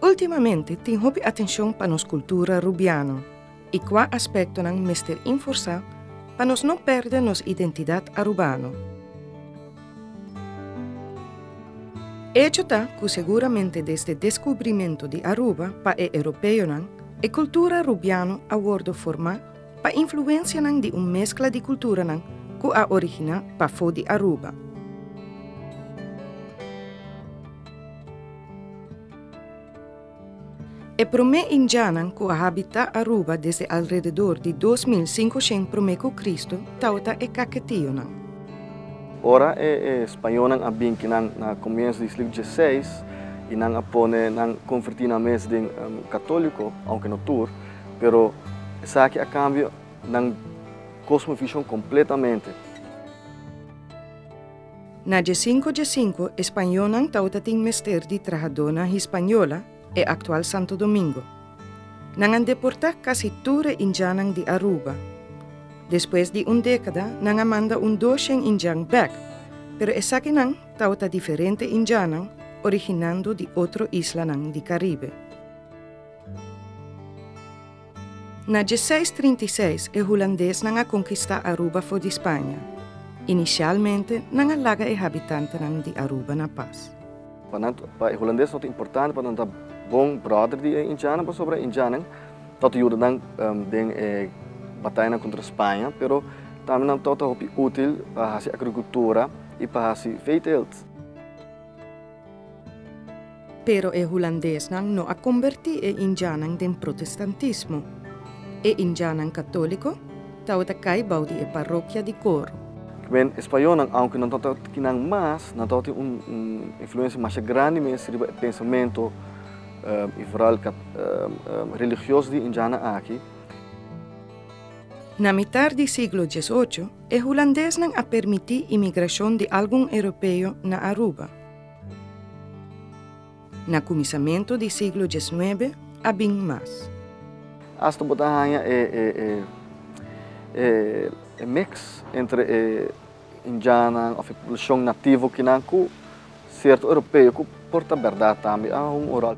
Ultimamente tin hopi atencion pa nos cultura Rubiano y cua aspectonan mester inforsa pa nos no perde nos identidad Arubano. Hecho ta cu seguramente desde descubrimento di Aruba pa e Europeonan e cultura Rubiano a wordo forma Pa influensianan di un meskla di kulturanan ku a originá pafó di Aruba. E promé Indianan ku a habitá Aruba desde alrededor di dos mil sinkoshen promé ku Kristu taota e Kaketionan. Ora e Spañonan a bin ki nan na komiensu di siglo diesiseis i nan a pone nan konvertí nan mes den Katóliko, ounke no tur, Pero esaki a kambia nan kosmovishon kompletamente. Na dje sinku dje sinku e spañonan tawata tin mester di trahadónan Hispañola, e aktual Santo Domingo. Nan a deportá kasi tur e indjannan di Aruba. Despues di un dékada nan a manda un doshen indjan bèk, pero esakinan tawata diferente indjannan originando di otro islanan di Karibe. Na djeseis trinta i seis e hulandesnan a konkistá Aruba for di Spaña. Inisialmente nan a laga e habitantenan di Aruba na pas. Pa nan, pa e hulandes tabata importante pa nan ta bon bròder di e Indianan pasobra e Indianan tabata yuda nan den e batayanan kontra Spaña, pero tambe nan tabata hopi útil pa hasi agrikultura i pa hasi veeteelt. Pero e hulandesnan no a kombertí e Indianan den protestantismo. E Indianan katóliko tabata kai bou di e parokia di Coro. Kimen e Spañolnan, ounke nan tabata ta kinan mas, nan tabata tin un influensia masha grandi mes riba e pensamentu i foral religioso di e Indianan aki. Na mitar di siglo dies ocho, E hulandesnan a permití imigrashon di algun europeo na Aruba. Na kuminsamentu di siglo diesnuebe a bin mas. Asta bo ta haña e miks entre e indiannan òf e poblashon nativo kinan ku sierto europeo ku por ta bèrdat tambe a hunga un ròl.